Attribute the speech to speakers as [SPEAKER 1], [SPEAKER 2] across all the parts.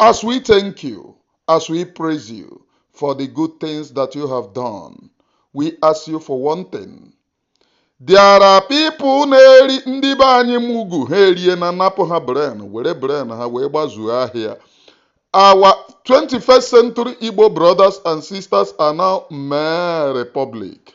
[SPEAKER 1] As we thank you, as we praise you for the good things that you have done, we ask you for one thing. There are people na-eri ndị be anyị mugu ha erie na napụ ha brain were brain ha wee gbazuo ahịa. Our 21st century Igbo brothers and sisters are now mere republic.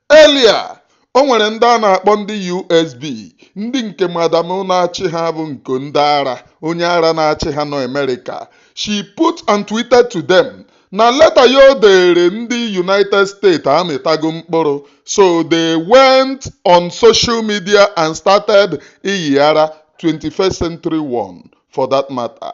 [SPEAKER 1] Earlier, o nwere ndị a na-akpọ ndị USB, ndị nke madam na-achị ha bụ Ngọ ndị ara, onye ara na-achị ha nọ America. She put and tweeted to them na leta ya o deere ndị United States amịtago mkpụrụ, so they went on social media and started ịyị ara, 21st century one for that matter.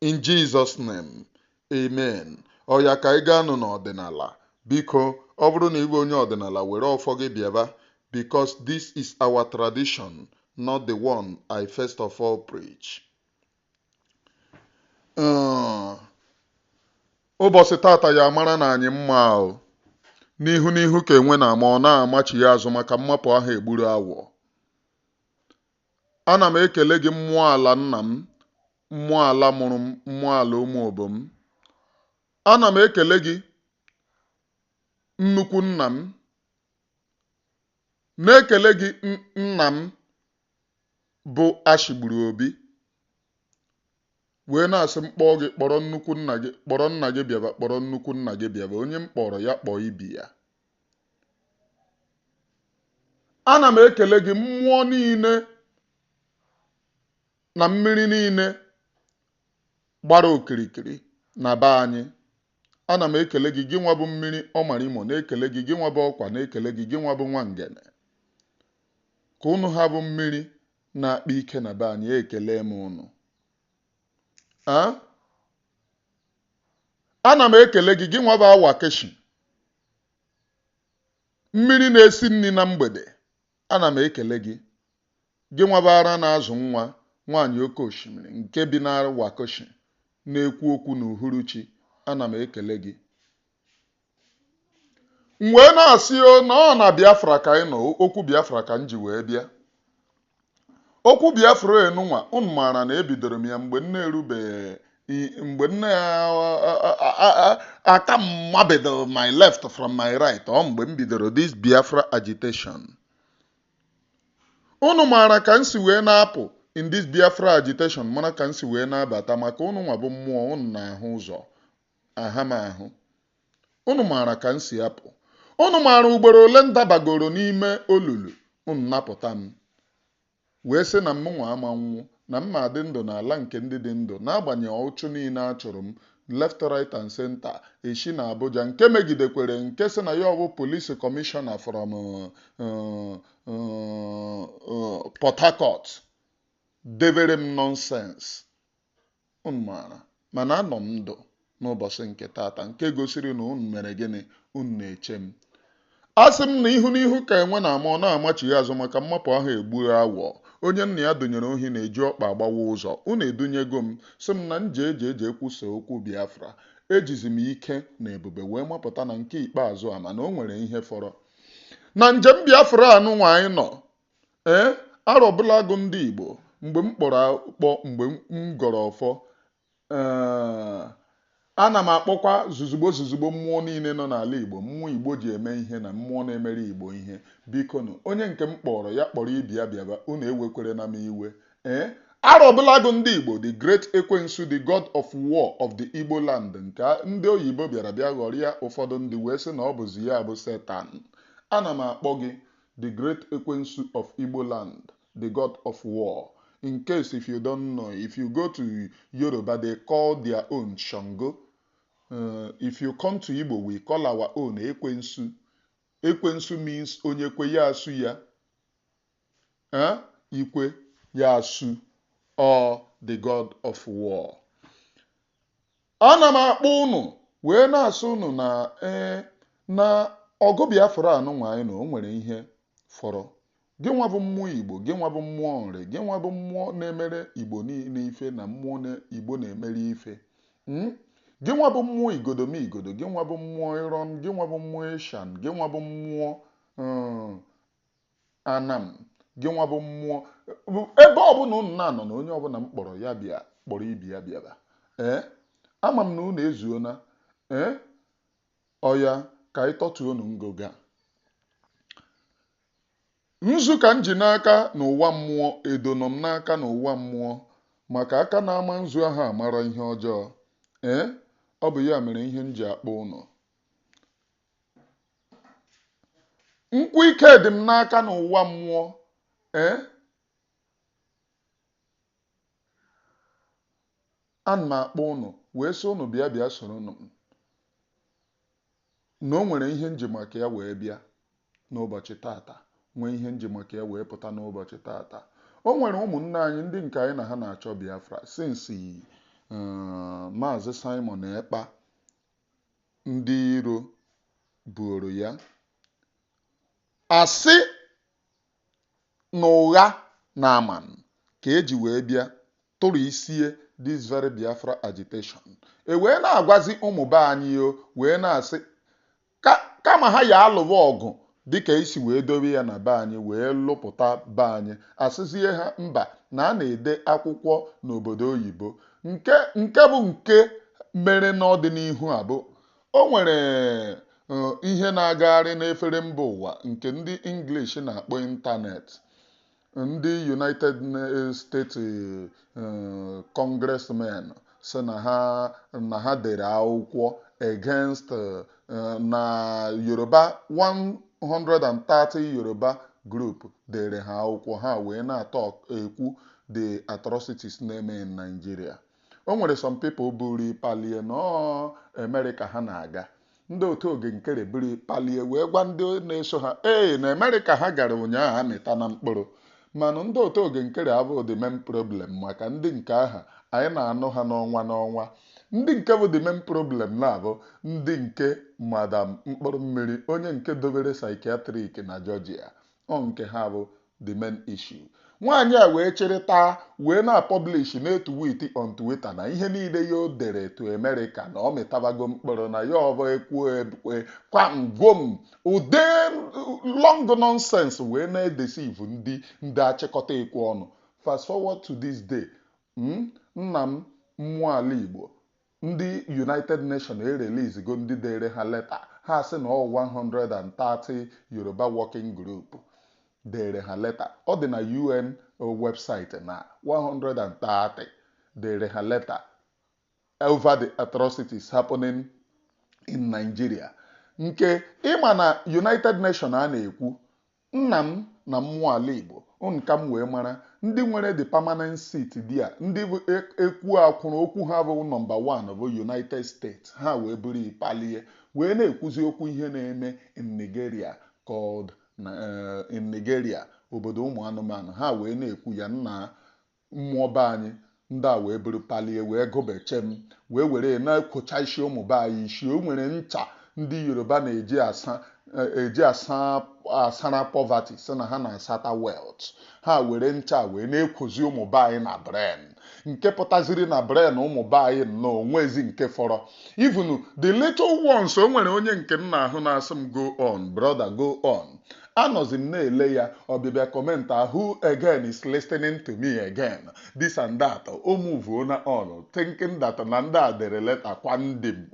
[SPEAKER 1] In Jesus name, amen. Oya ka anyị gaanụ n'ọdịnala. Biko, ọ bụrụ na ị bụ onye ọdịnala, were ọfọ gị bịaba because this is our tradition, not the one I first of all preach. Uh, ụbọchị tata ya maranụ anyị mma o n'ihu n'ihu ka enwe na-ama ọ na-amachi ya azụ maka mmapụ aha egburu awọ ana m ekele gị mmụọ ala nna m mmụọ ala mụrụ m mmụọ ala Ụmụobom ana m ekele gị nnukwu nna m na-ekele gị n- nna m bụ Ashigburu Obi wee na-asị m kpọọ gị kpọrọ nnukwu nna gị kpọrọ nna gị bịaba kpọrọ nnukwu nna gị bịaba onye m kpọrọ ya kpọọ ibe ya ana m ekele gị mmụọ niile na mmiri niile gbara okirikiri na be anyị ana m ekele gị gị nwa bụ mmiri ọmarimo na-ekele gị gị nwa bụ ọkwa na-ekele gị gị nwa bụ Nwangene ka ụnụ ha bụ mmiri na-akpa ike na be anyị ekele m ụnụ ana m ekele gị gị nwa bụ awa keshi mmiri na-esi nri na mgbede ana m ekele gị, gị nwa bụ ara na-azụ nwa, nwaanyị oke osimiri nke bi na Wakoshi na-ekwu okwu n'uhuruchi, ana m ekele gị. M wee na-asị o na ọ na Biafra ka anyị nọ, okwu Biafra ka m ji wee bịa. Okwu Biafra a nụnwa, unu maara na ebidoro m ya mgbe m na-erubeghị mgbe m na-aka mabido my left from my right ọ mgbe m bidoro this Biafra agitation unu maara ka m si wee na-apụ in this Biafra agitation mara ka m si wee na-abata maka unu nwa bụ mmụọ unu na-ahụ ụzọ aha m ahụ unu maara ka m si apụ unu maara ugboro ole m dabagoro n'ime olulu unu napụta m Wee sị na mụnwa ama nwụ, na m ma-adị ndụ n'ala nke ndị dị ndụ, n'agbanyeghị ọchụchụ niile a chụrụ m, left, right and centre, eshi n'Abuja, nke megidekwere nke sị na ya ọ bụ Police Commissioner from Port Harcourt, devere m nonsense. Unu maara, mana anọ m ndụ n'ụbọchị nke tata, nke gosiri na unu mere gịnị? Unu na-eche m. Asị m na ihu n'ihu ka enwe na-ama, ọ na-amachigha azụ, maka mmapụ aha egbu awọ. Onye nna ya dunyere ohi na-eji ọkpa agbawa ụzọ. Unu edunyego m, sị m na m jee jee jee kwusaa okwu Biafra. Ejizi m ike na ebube wee mapụta na nke ikpeazụ a, mana o nwere ihe fọrọ. Na njem Biafra a nụnwa anyị nọ, ee arọbụlagụ ndị Igbo mgbe m kpọrọ akpọ mgbe m gọrọ ọfọ ee ana m akpọkwa zuzugbo zuzugbo mmụọ niile nọ n'ala Igbo mmụọ Igbo ji eme ihe na mmụọ na-emere Igbo ihe bikonu onye nke m kpọrọ ya kpọrọ ibe ya bịaba unu ewekwerena m iwe ee arọbụlagụ ndị Igbo the great ekwensu the god of war of the Igbo land nke ndị oyibo bịara bịa ghọrịa ụfọdụ ndị wee sị na ọ bụzi ya bụ setan ana m akpọ gị The great Ekwensu of Igbo land, the god of war. In case if you don't know, if you go to Yoruba, they call their own Shango. Uh, if you come to Igbo, we call our own Ekwensu. Ekwensu means onye kwe ya asu ya. Eh? Ikwe ya asu or the god of war. ana m akpọ ụnụ wee na-asị ụnụ na ee na ọgụ Biafra anụnwa anyị na o nwere ihe fọrọ gị nwa bụ mmụọ Igbo gị nwa bụ mmụọ Nri gị nwa bụ mmụọ na-emere Igbo niile ife na mmụọ Igbo na-emere ife hmm? gị nwa bụ mmụọ Igodomigodo gị nwa bụ mmụọ ịrọm gị nwa bụ mmụọ Ishan gị nwa bụ mmụọ hmm, Anam, gịnwa bụ mmụọ, ebe ọbụla ụnụ na-anọ na onye ọbụla m kpọrọ ya bịa kpọrọ ibe ya bịaba. Ee, ama m na ụnụ ezuona. Ee, ọya ka anyị tọtuo ụnụ ngịga. Nzu ka m ji n'aka n'ụwa mmụọ, edo nọ m n'aka n'ụwa mmụọ, maka aka na-ama nzu aha amara ihe ọjọọ. Ee, ọ bụ ya mere ihe m ji akpọ ụnụ. nkwụ ike dị m n'aka n'ụwa mmụọ ee ana m akpọ ụnụ wee sị ụnụ bịa bịa soronụ m na o nwere ihe m ji maka ya wee bịa n'ụbọchị tata nwee ihe m ji maka ya wee pụta n'ụbọchị tata o nwere ụmụnne anyị ndị nke anyị na ha na-achọ Biafra since eh, maazị Simon Ekpa ndị iro buoro ya asị na ụgha na ama nke e ji wee bịa tụrụ isie this very Biafra agitation e wee na-agwazi ụmụ be anyị o wee na-asị kama ha ya alụwa ọgụ dịka e si wee dobe ya na be anyị wee lụpụta be anyị, a sịzie ha mba na a na-ede akwụkwọ n'obodo oyibo. Nke nke bụ nke mere n'ọdịnihu a bụ o nwere ihe na-agagharị n'efere mba ụwa nke ndị English na-akpọ ịntanetị. ndị United States eh, congressmen sị na ha na ha dere akwụkwọ against eh, na Yoruba 130 Yoruba group deere ha akwụkwọ ha wee na-atọk ekwu the atrocities na-eme in Nigeria o nwere some people buru palie na ọ America ha na-aga Ndị otu Oge Nkere buru palie wee gwa ndị na-eso ha ee na Amerịka ha gara ụnyaahụ amịtana mkpụrụ mana ndị otu Oge Nkere abụghị the main problem maka ndị nke aha anyị na-anụ ha n'ọnwa n'ọnwa ndị nke bụ the main problem na-abụ ndị nke madam mkpụrụ mmiri onye nke dobere psychiatric na Georgia ọ nke ha bụ the main issue. Nwaanyị a wee chịrị taa wee na-apọblish na-etuwiti on Twitter na ihe niile ya o dere to America na ọ mịtabago mkpụrụ na ya ọbọ ekwuo ekwe kwam gwom ụdị long nonsense wee na-edeceive ndị ndị achịkọta ekwu ọnụ fast forward to this day mm, nna m mmụọ ala Igbo Ndị United Nation ereleasego ndị deere ha leta, ha sị na ọ 130 Yoruba Working Group deere ha leta. Ọ dị na UN website na 130 deere ha leta over the atrocities happening in Nigeria. Nke ị ma na United Nation a na-ekwu Nna m na mmụọ ala Igbo, ụnụ ka m wee mara, ndị nwere the permanent seat there, ndị bụ ekwuo akwụrụ, okwu ha bụ nọmba one bụ United States, ha wee buru i palie, wee na-ekwuzi okwu ihe na-eme in Nigeria called in Nigeria, obodo ụmụ anụmanụ, ha wee na-ekwu ya, nna Mmụọ be anyị ndị a wee buru palie wee gụbe chem wee were ya na-ekwocha isi ụmụ be anyị isi. O nwere ncha ndị Yoruba na-eji asa eji asa asara poverty sị na ha na-asata wealth. Ha were ncha a wee na-ekwozi ụmụ be anyị na brain nke pụtaziri na brain ụmụ be anyị nnọọ o nweghịzi nke fọrọ. Even the little ones o nwere onye nke m na-ahụ na-asị m go on brother go on. Anọzi m na-ele ya ọbịbịa comment a who again is listening to me again this and that o muvuona on thinking that na ndị a dere leta kwa ndị m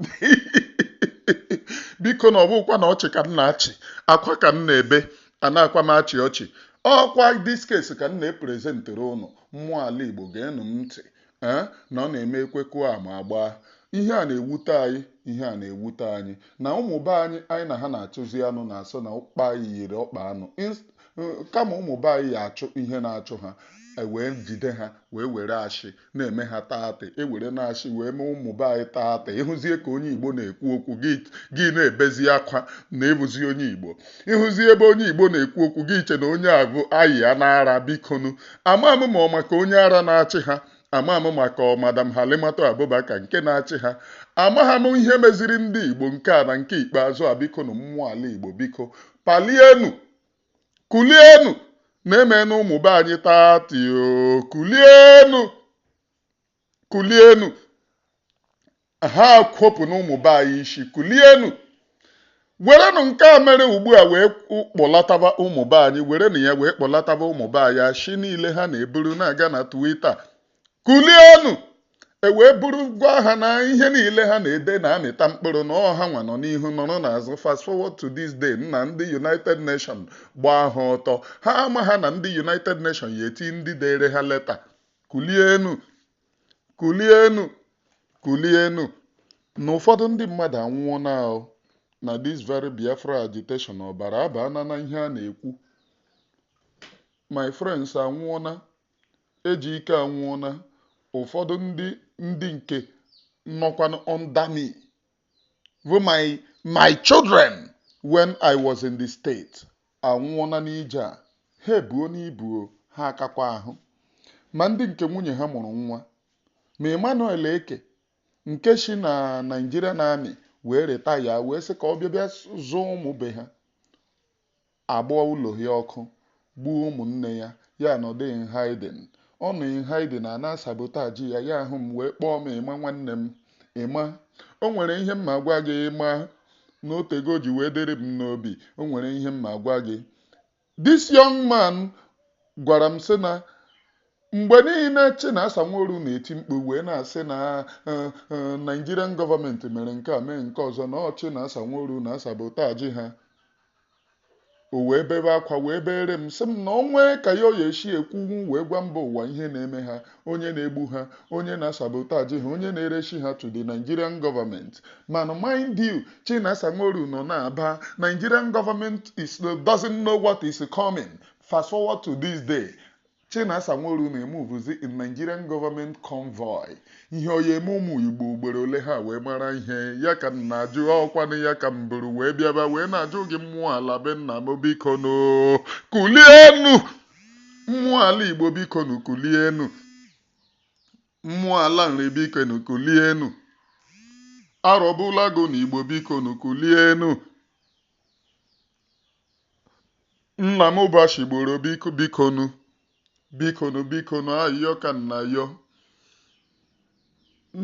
[SPEAKER 1] biko na ọ bụkwa na ọchị ka m na-achị akwa ka m na-ebe a na-akwa m achị ọchị ọ kwa this case ka m na-eprezentere ụnụ mmụọ ala Igbo geenụ m ntị ee na ọ na-eme ekwe kụọ ama agbaa ihe a na-ewute anyị ihe a na-ewute anyị na ụmụ be anyị anyị na ha na-achụzi anụ na-asị na ọkpa anyị yiri ọkpa anụ Ins- eh, kama ụmụ be anyị ya achụ ihe na-achụ ha e wee jide ha wee were ashị na-eme ha taatị e were na ashị wee mee ụmụ be anyị taatị ị hụzie ka onye igbo na-ekwu okwu gị gị na-ebezi akwa na ị bụzi onye igbo ị hụzie ebe onye igbo na-ekwu okwu gị eche na onye a bụ ayi ya n'ara bikonu ama m ma ọ maka onye ara na-achị ha ama m maka ọ madam Halimatu Abubakar nke na-achị ha amaha m ihe meziri ndị Igbo nke a na nke ikpeazụ a biko na mmụọ ala Igbo biko palienu kulienu na emenụ ụmụ be anyị taatị o kulienu kulienu ha kwopụnụ ụmụ be anyị ishi kulienu werenụ nke a mere ugbu a wee kpọlataba ụmụ be anyị werenụ ya wee kpọlataba ụmụ be anyị ashị niile ha na-eburu na-aga na Twitter kulienu wee buru gwa ha na ihe niile ha na-ede na-amịta mkpụrụ na ọ hanwa nọ n'ihu nọrọ n'azụ fast forward to this day na ndị United Nations gbaa ha ọtọ ha amaha na ndị United Nations ya eti ndị dere ha leta kulienu kulienu kulienu na ụfọdụ ndị mmadụ anwụọna na this very Biafra agitation ọbara abana na ihe a na-ekwu my friends anwụọna Ejike anwụọna ụfọdụ ndị ndị nke nọkwanụ under me bụ my my children when I was in the state anwụọna n'ije a ha ebuo n'ibuo, ha akakwa ahụ ma ndị nke nwunye ha mụrụ nwa ma Emmanuel Eke nke shi na Nigerian Army wee retaya wee sị ka ọ bịa bịa zụọ ụmụ be ha agbaa ụlọ ya ọkụ, gbuo ụmụnne ya, ya anọdụ in hiding. Ọ nọ in hiding, a na-asabotaji ya, ya ahụ m wee kpọọ m, Ịma nwanne m, Ịma, o nwere ihe m ma gwa gị, Ịma, na o tego o ji wee dịrị m n'obi, o nwere ihe m ma gwa gị. This young man gwara m sị na Mgbe niile Chinasa Nworu na-eti mkpu wee na-asị na Nigerian gọọmenti mere nke a mee nke ọzọ na ọ Chinasa Nworu na-asabotaji ha. O wee bebe akwa wee beere m sị m na o nwee ka ya ọ ya-esi ekwunwu wee gwa mba ụwa ihe na-eme ha, onye na-egbu ha, onye na-asabotaji ha, onye na-eresi ha to the Nigerian gọọmenti. Mana mind you, Chinasa Nworu nọ na-aba, Nigerian gọọmenti is doesn't know what is coming fast forward to this day. Chinasa Nworu na-emuvuzi in Nigerian government convoy. Ihe ọ ya eme ụmụ Igbo ugboro ole ha wee mara ihe? Ya ka m na-ajụ, ọkwanụ ya ka m buru wee bịaba wee na-ajụ gị mmụọ ala be nna m bikonu kulienu! Mmụọ ala Igbo bikonu kulienu! Mmụọ ala Nri bikonu kulienu! Arọbulago na Igbo bikonu kulienu! nna m ụbọchị gboro bikonu bikonu bikonu ayọ ka m na-ayọ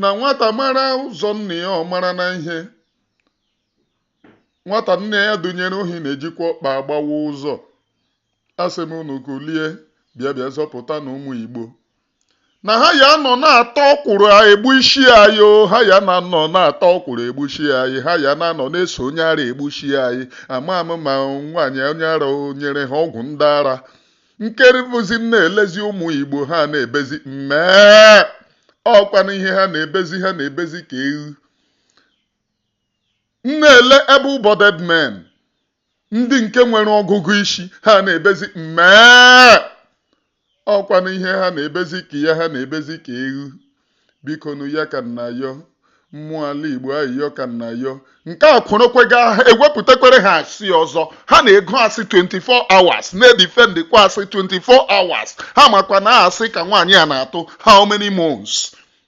[SPEAKER 1] na nwata mara ụzọ nna ya ọ marana ihe nwata nne ya dunyere ohi na-ejikwa ọkpa agbawa ụzọ asị m unu kulie bịa bịa zọpụtanụ ụmụ igbo na ha ya nọ na-ata ọkwụrụ egbusi anyị o ha ya na-anọ na-ata ọkwụrụ egbusi anyị ha ya na-anọ na-eso onye ara egbusi anyị ama m ma nwaanyị onye ara o nyere ha ọgwụ ndị ara nke bụzi m na-elezi ụmụ igbo ha na-ebezi mmee ọkwanụ ihe ha na-ebezi ha na-ebezi ka eghu m na-ele able-bodied men ndị nke nwere ọgụgụ isi ha na-ebezi mmee ọkwanụ ihe ha na-ebezi ka ya ha na-ebezi ka eghu biko nụ ya ka m na-ayọ mmụọ ala igbo ayịyọ ka m na-ayọ nke a kworokwega ha ewepụtakwere ha asị ọzọ ha na-ego asị 24 hours na-edifendikwa asị 24 hours ha makwa na asị ka nwaanyị a na-atụ how many months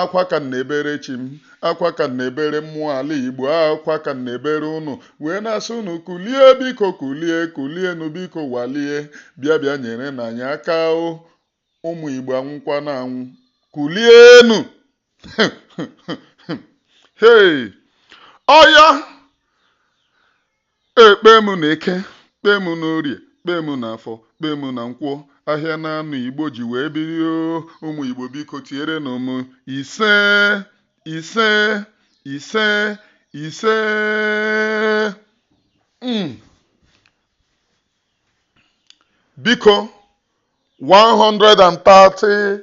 [SPEAKER 1] akwa ka m na-ebere chi m akwa ka m na-ebere mmụọ ala igbo akwa ka m na-ebere unu wee na-asị unu kulie biko kulie kulienu biko walie bịa bịa nyerenụ anyị aka o ụmụ igbo anwụkwana anwụ kulienu hei ọya Ekpe m na Eke, kpe m na Orie, kpe m na Afọ, kpe m na Nkwọ, ahịa naanọ Igbo ji wee biri o, ụmụ Igbo biko tierenụ m ise, ise, ise, ise. Mm. Biko 130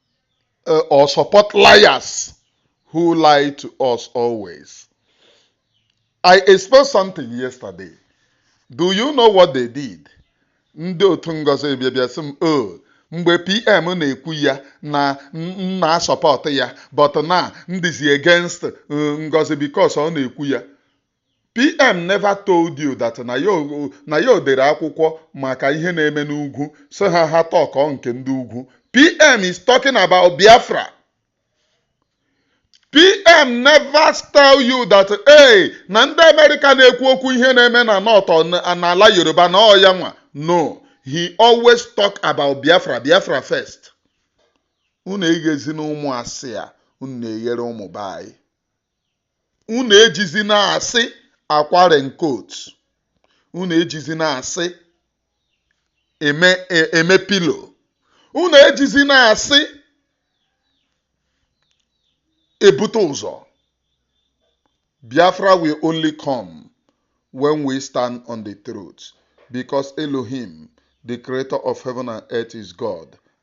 [SPEAKER 1] uh, or support liars who lie to us always. I exposed something yesterday. Do you know what they did? Ndị otu Ngozi bịa bịa sị m o mgbe PM na-ekwu ya na m na-asọpọt ya but na m dịzi against uh, Ngozi because ọ na-ekwu ya. PM never told you that na ya o- na ya o dere akwụkwọ maka ihe na-eme n'ugwu so ha ha talk nke ndị ugwu PM is talking about Biafra PM never tell you that na ndị Amerịka na-ekwu okwu ihe na-eme na North or na- n'ala Yoruba na ọ ya nwa no he always talk about Biafra Biafra first unu eghezina ụmụ asị a unu na-eghere ụmụ be anyị unu ejizina asị akwa raincoat unu ejizina asị eme e- eme pillow unu ejizina asị ebute ụzọ biafra will only come when we stand on the truth because elohim the creator of heaven and earth is god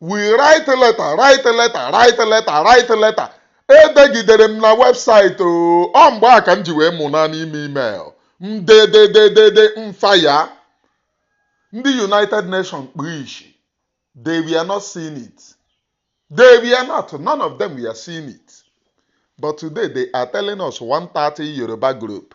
[SPEAKER 1] we write letter write letter write letter write letter edegidere m na website oh, ọ mgbe a ka m ji wee mụ na n'ime email m dedededede m fa ya ndị united nations kpu ishi they were not seeing it they were not none of them were seeing it but today they are telling us 130 yoruba group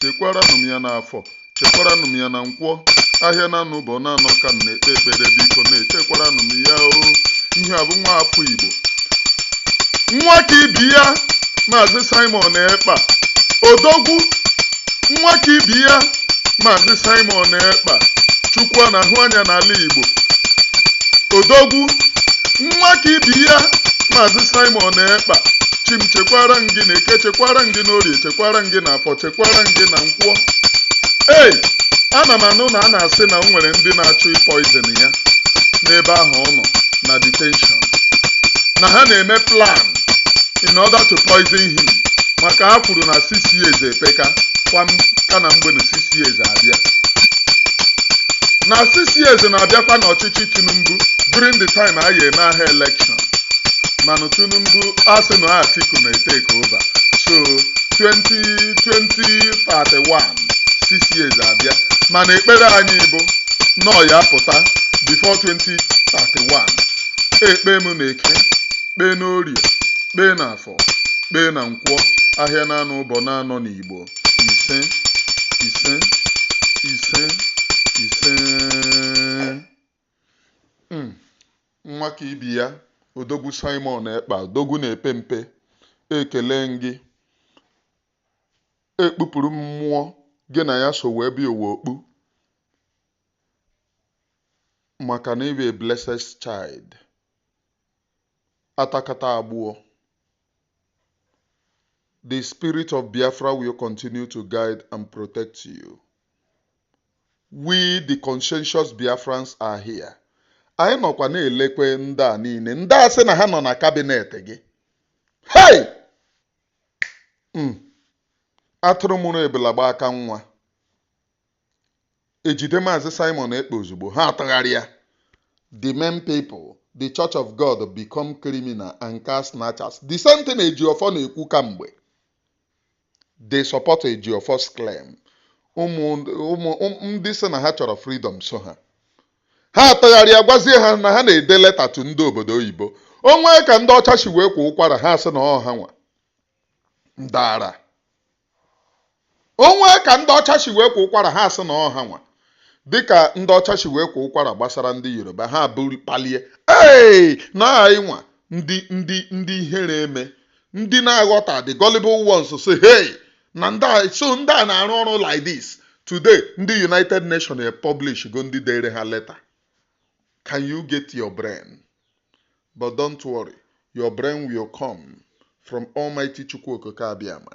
[SPEAKER 1] chekwaranụ m ya n'afọ chekwaranụ m ya na nkwọ ahịa na anọ ụbọ na anọ ka m na-ekpe ekpere biko na-echekwaranụ m ya o ihe a bụ nwa afọ igbo nwa ka ibe ya maazị simon ekpa odogwu nwa ka ibe ya maazị simon ekpa chukwu a na-ahụ anya n'ala igbo odogwu nwa ka ibe ya maazị simon ekpa chi m chekwara m gị na eke chekwara m gị n'orie chekwara m gị na afọ chekwara m gị na nkwọ ei ana m anụ na a na-asị na o nwere ndị na-achọ ị poison ya n'ebe ahụ ọ nọ na detention na ha na-eme plan in order to poison him maka ha kwuru na six years epeka ka na mgbe six years abịa na six years na-abịakwa n'ọchịchị tinubu during the time a ya-eme aha election mana tinubu asị na atiku na-etake over so 2031 six years abịa mana ekpere anyị bụ nọọ ya pụta before 2031 ekpee m na eke kpee n'orie kpee na afọ kpee na nkwọ ahịa na-anọ ụbọ na-anọ n'igbo ise ise ise ise Mm. nwa ka ibe ya odogwu simon ekpa odogwu na-epe mpe ekele m gị ekpupụrụ m mmụọ gị na ya so wee bịa ụwa okpu maka na ị bụ a blessed child atakata agbụọ the spirit of biafra will continue to guide and protect you We the conscientious Biafrans are here. Anyị nọkwa na-elekwe ndị a niile ndị a sị na ha nọ na kabinet gị hei hmm. atụrụ mụrụ ebula gba aka nwa ejide maazị Simon Ekpa ozugbo ha atụgharịa the men people the church of God become criminal and car snatchers the same thing Ejiofor na-ekwu kamgbe They support Ejiofor's claim. Ụmụ ụmụ ụm- ndị sị na ha chọrọ freedom so ha. Ha atụgharịa gwazie ha na ha na-ede leta to ndị obodo oyibo. O nwee ka ndị ọcha si wee kwa ụkwara ha sị na ọ ha nwa. Ndara. O nwee ka ndị ọcha si wee kwa ụkwara ha sị na ọ ha nwa. Dịka ndị ọcha si wee kwa ụkwara gbasara ndị Yoruba ha bụrụ palie. Ee, na anyị nwa ndị ndị ndị ihere eme ndị na-aghọta the gullible ones say hey na ndị a so ndị a na-arụ ọrụ like this today ndị united nations publish go ndị dere ha leta can you get your brain but don't worry your brain will come from almighty chukwu okike abịama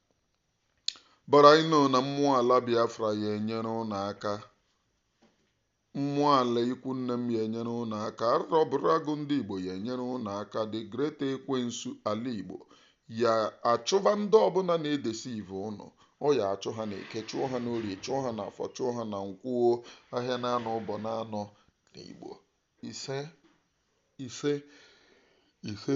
[SPEAKER 1] But I know na mmụọ ala Biafra ya enyere ụnụ aka. Mmụọ ala ikwu nne m ya enyere ụnụ aka. Arọbụrụ agụ ndị Igbo ya enyere ụnụ aka. The great ekwensu ala Igbo ya achụba ndị ọbụla na-edeceive ụnụ. Ọ ya achụ ha n'eke, chụọ ha n'orie, chụọ ha n'afọ, chụọ ha na nkwọ, ahịa naanọ ụbọ naanọ n'Igbo. Ise, ise, ise.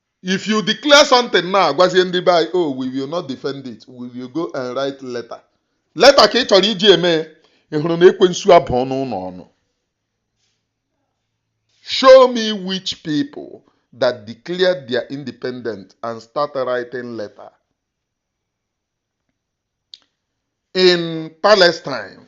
[SPEAKER 1] If you declare something now, gwazie ndị be anyị, oh, we will not defend it. We will go and write letter. Leta ka ị chọrọ iji eme ya. Ị hụrụ na ekwensu abụọna ụnụ ọnụ. Show me which people that declared their independence and start writing letter. In Palestine,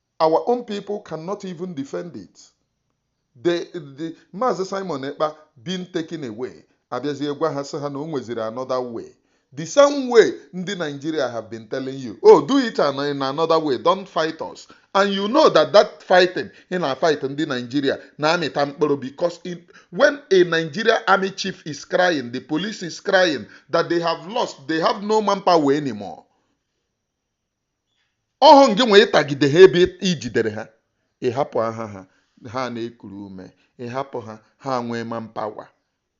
[SPEAKER 1] Our own people cannot even defend it. The, the Maazị Simon Ekpa being taken away, abịazie gwa ha sị ha na o nweziri another way. The same way ndị Nigeria have been telling you, oh, do it an- in another way, don't fight us. And you know that that fighting ị na-fight ndị Nigeria na-amịta mkpụrụ because in, when a Nigeria army chief is crying, the police is crying that they have lost, they have no manpower anymore. ọhụ ngị nwa ị tagide ha ebe i jidere ha ị hapụ ha ha ha na-ekuru ume ị hapụ ha ha nwee manpower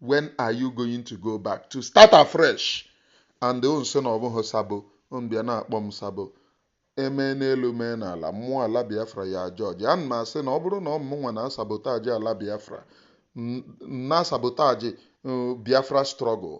[SPEAKER 1] when are you going to go back to start afresh and o nso na ọ bụghị sabo bịa na-akpọ m sabo e mee n'elu mee n'ala mmụọ ala biafra ya judge ana m asị na ọ bụrụ na ọ mụ nwa na-asabotaji ala biafra na-asabotaji uh, biafra struggle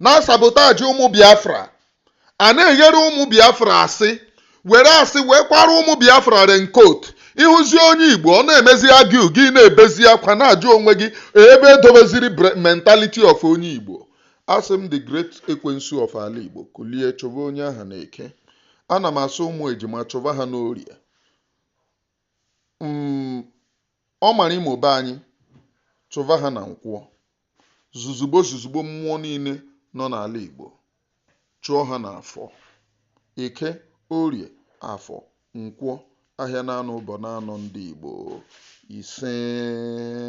[SPEAKER 1] na-asabotage ụmụ Biafra a na-eghere ụmụ Biafra asị were asị wee kwara ụmụ Biafra raincoat ịhụzi onye Igbo ọ na-emezi argue gị na-ebezi akwa na-ajụ onwe gị ebe e dobeziri bre- mentality of onye Igbo asị m the great ekwensu of ala Igbo kulie chụba onye aha na Eke ana m asị ụmụ ejima chụba ha n'Orie Mm, Ọ mara imo be anyị, chụva ha na Nkwọ. Zuzugbo zuzugbo mmụọ niile nọ n'ala Igbo, chụọ ha n'Afọ. Eke, Orie, Afọ, Nkwọ, Ahịa n'anọ ụbọ n'anọ ndị Igbo. Isee.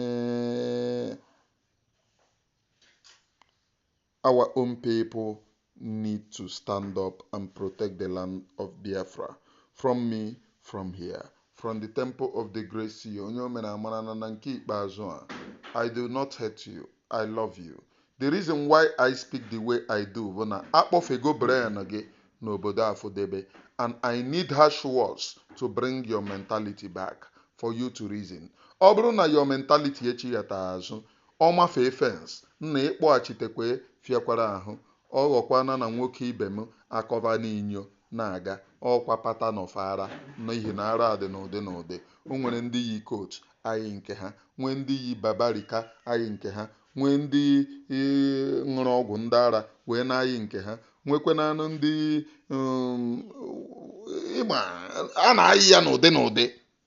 [SPEAKER 1] Our own people need to stand up and protect the land of Biafra. From me, from here, from the temple of the great seer, onye o mere amara na na nke ikpeazụ a, I do not hate you, I love you. The reason why I speak the way I do bụ na a kpọfego brain gị n'obodo Afọdebe and I need harsh words to bring your mentality back for you to reason. Ọ bụrụ na your mentality echighata azụ, Ọ mafee fence, nna ịkpọghachitekwa fịakwara ahụ. Ọ ghọkwana na nwoke ibe m akọva n'inyo na-aga, ọ kwa pattern of ara n'ihi na ara dị n'ụdị n'ụdị. O nwere ndị yi coat ayị nke ha, nwee ndị yi babarika ayị nke ha, nwee ndị ṅụrụ ọgwụ ndị ara wee na-ayị nke ha, nwekwanụ ndị, um, ị ma, a na-ayị ya n'ụdị n'ụdị.